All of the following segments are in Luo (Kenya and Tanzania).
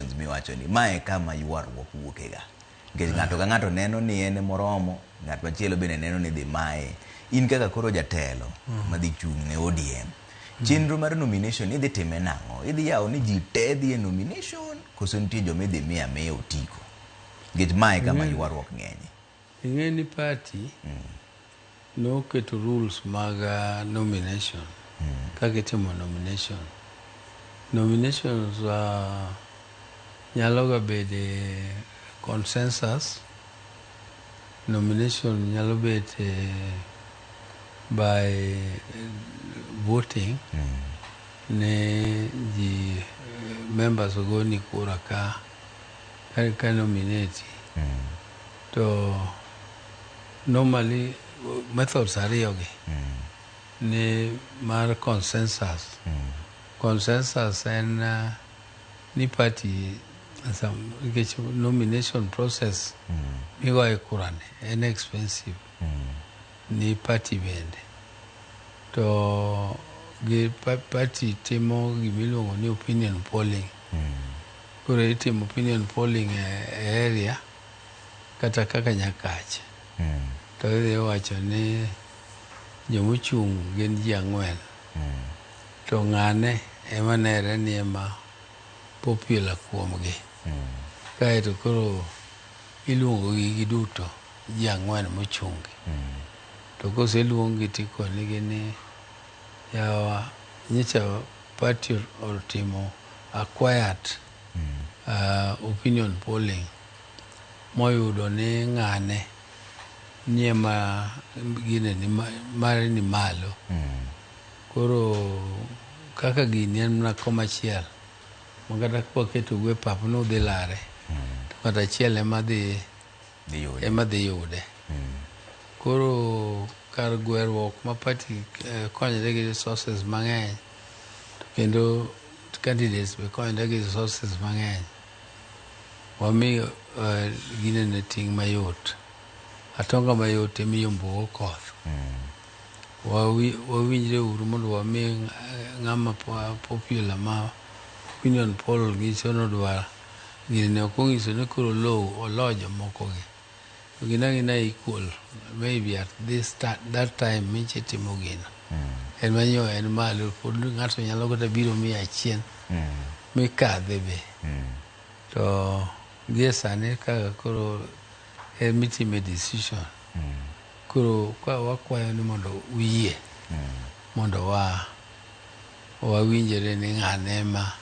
questions miwacho ni ma e kama ywaruok wuokega nikech ng'ato ka ng'ato neno ni en moromo ng'at machielo bende neno ni dhi maye in kaka koro jatelo mm. madhi chung' ne ODM mm. chenro mar nomination idhi time nang'o idhi yawo ni ji te dhi e nomination koso nitie joma idhi miya miya otiko nikech ma e kama mm. ywaruok ng'enye Ing'e ni party noketo rules mag nomination kaka itimo nomination. Nominations nyalo ga bede consensus, nomination nyalo bet by voting ni ji members ogoni kura ka. Kar ka nominate to normally methods ariyogi ni mar consensus consensus en uh, ni party some- nikech nomination process migoye kurani en expensive ni party bende to gi pa- party timo gimiluongo ni opinion polling Koro itimo opinion polling e area kata kaka nyakach mm. to idhi wacho ni jomochung' gin ji ang'wen mm. to ng'ane ema nere ni ema popular kuomgi mm. kaeto koro iluongo gi giduto ji ang'wen mochungi mm. to koseluongi tikonigi ni yawa nyicha Party otimo a quiet uh, opinion polling moyudo ni ng'ane nie ma gine ni ma- mare ni malo koro kaka gini en mana koma achiel ma kata kwaketo gue pap nudhi lare to kata achiel ema dhi ema dhi yude. Hmm. Koro kar gweruok ma party eh, konyre gi resources mang'eny to kendo candidates be konyre gi resources mang'eny wami uh, eh, ginene ting' mayot atonga mayot emiyo mbuo koth mm. wawinjre uru mondo wami eh, ng'ama popular ma opinion poll nyiso nodwar Gini ne ok ongiso ni koro Olou oloo jomoko gi. To gin angina equal maybe at this that time minche itimo gino. En manyo en malo pod ngato nyalo kata biro mia achien mikadhe be. To gie sani kaka koro en mitime decision. Koro ka wakwayo ni mondo uyie mondo wa wawinjore ni ng'ane ema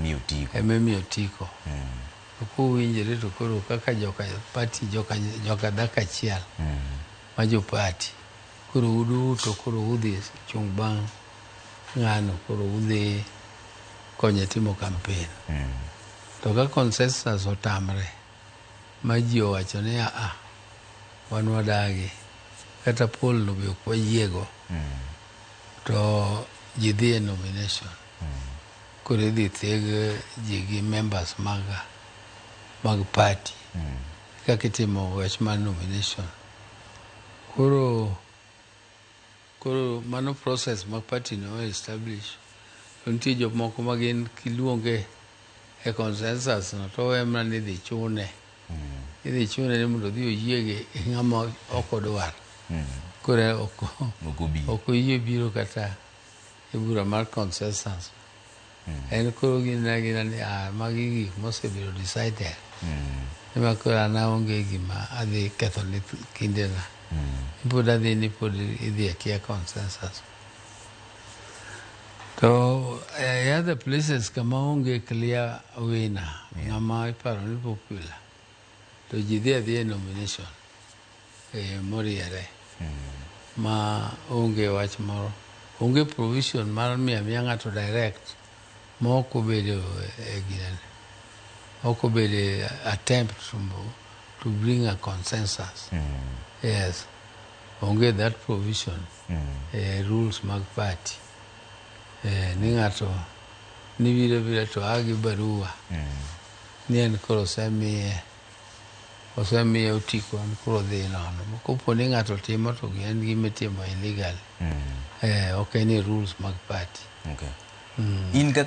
Miyo otiko. ema emiyo otiko. To kuwinjore to koro kaka joka party joka joka dhako achiel ma jo party koro uduto koro udhi chung' bang' ng'ano koro udhi konye timo kampen. To ka consensus otamre ma ji owacho ni aa, wan wadagi, kata poll no be ok wayiego, to ji dhi e nomination. Koro idhi theg ji gi members mag, mag party. Kaka itimo wach mar nomination. Koro. Koro mano process ma party no o establish. To nitie jomoko ma gin kiluonge e consensus no to owe mana ni idhi chune. Idhi chune ni mondo odhi oyie gi ng'ama ok odwar. Koro ok ok oyie biro kata e bura mar consensus mm. en koro ginena gina ni a ah, magi gik mosebedo decided mm. ema koro an aonge gima adhi ketho ni kindena mm. pod adhi ni pod idhi akia consensus to uh, e other places kama onge clear wina yeah. ng'ama iparo ni popular to ji dhi adhi e nomination moriere ma onge wach moro, onge provision mar miyo amiya ng'ato direct ma ok obedo e ginene, ok obedo e attempt to, to bring a consensus. Yes, onge that provision e rules mag party eh, ni ng'ato nibiro bira to a gi barua ni en koro osemiye osemiye otiko en koro odhi nono kopo ni ng'ato timo to en gima itimo illegally eh, ok en e rules mag party. Okay. Mm. In kaka